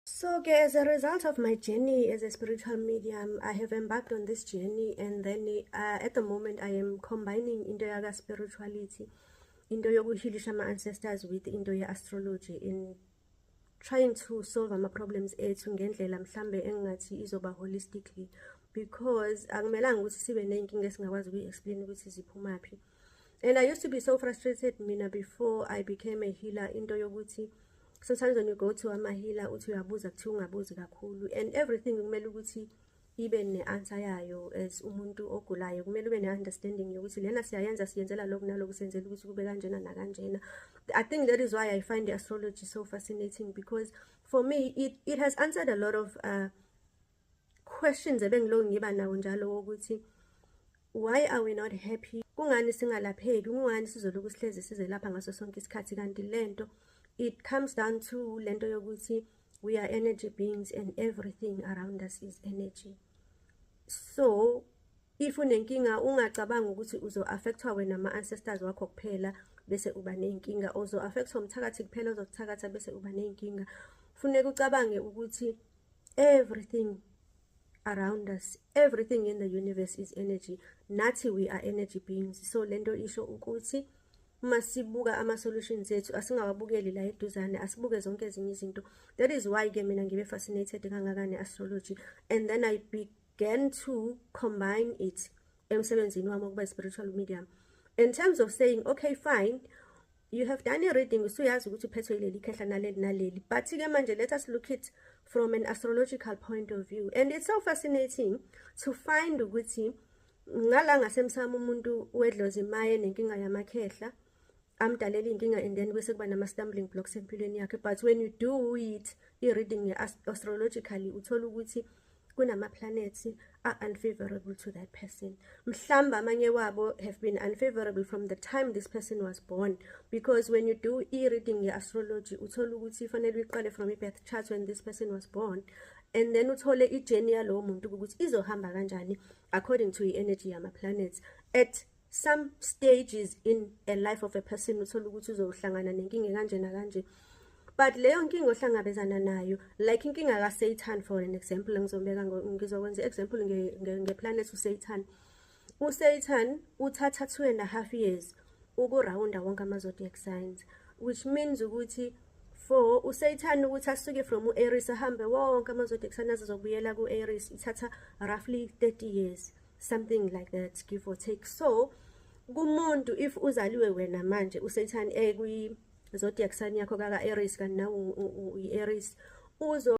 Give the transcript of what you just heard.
So okay, as a result of my journey as a spiritual medium, I have embarked on this journey and then uh, at the moment I am combining into yaka spirituality, into yokuhilisha ama ancestors with into ye astrology in trying to solve ama problems ethu ngendlela mhlambe engathi izoba holistically because akumelanga ukuthi sibe nenkinga esingakwazi ukuyi explain ukuthi ziphumaphi. and i used to be so frustrated mina before i became a healer into yokuthi sometimes when you go to amahila uthi uyabuza kuthiwa ungabuzi kakhulu and everything kumele ukuthi ibe ne-answer yayo as umuntu ogulayo kumele ube ne-understanding yokuthi lena siyayenza siyenzela lokhu naloku senzela ukuthi kube kanjena nakanjena i think that is why i find astrology so fascinating because for me it, it has answered a lot of uh, questions ebengilokhu ngiba nawo njalo wokuthi why are we not happy kungani singalapheki kungani sizolokhu sihlezi sizelapha ngaso sonke isikhathi kanti lento it comes down to lento yokuthi we are energy beings and everything around us is energy so if unenkinga ungacabanga ukuthi uzo-affectwa wena ama-ancestors wakho kuphela bese uba ney'nkinga uzo-affectwa umthakathi kuphela ozokuthakatha bese uba ney'nkinga funeka ucabange ukuthi everything around us everything in the universe is energy nathi we are energy beings so lento isho ukuthi uma sibuka ama-solutions ethu asingawabukeli la eduzane asibuke zonke ezinye izinto that is why ke mina ngibe fascinated kangaka ne-astrology and then i began to combine it emsebenzini wami wokuba i-spiritual medium in terms of saying okay fine you have done a reading usuyazi ukuthi uphethwe ileli khehla naleli naleli but ke manje let us look it from an astrological point of view and it's so fascinating to find ukuthi ngala ngasemsamo umuntu wedlozi imaye nenkinga yamakhehla amdalela inkinga and then bese kuba nama stumbling blocks empilweni yakhe but when you do it i reading astrologically uthola ukuthi kunamaplanethi a-unfavorable to that person mhlawumbe amanye wabo have been unfavorable from the time this person was born because when you do i-reading ye-astrology uthole ukuthi ifanele uyiqale from i-birth chart when this person was born and then uthole i-journey yalowo muntu ukuthi izohamba kanjani according to i-energy yama-planets at some stages in a life of a person uthole ukuthi uzohlangana nenkinga kanje nakanje but leyo nkinga ohlangabezana nayo like inkinga kaSatan for an example ngizobeka ngizokwenza example ngeplanet nge uSatan uSatan uthatha 2 and a half years ukurawunda wonke ama zodiac signs which means ukuthi for uSatan ukuthi asuke from uAries ahambe wonke ama zodiac signs azobuyela kuAries ithatha roughly 30 years something like that give or take so kumuntu if uzaliwe wena manje uSatan ekwi zodiac sign yakho kaka Aries kanti nawu uAries uzo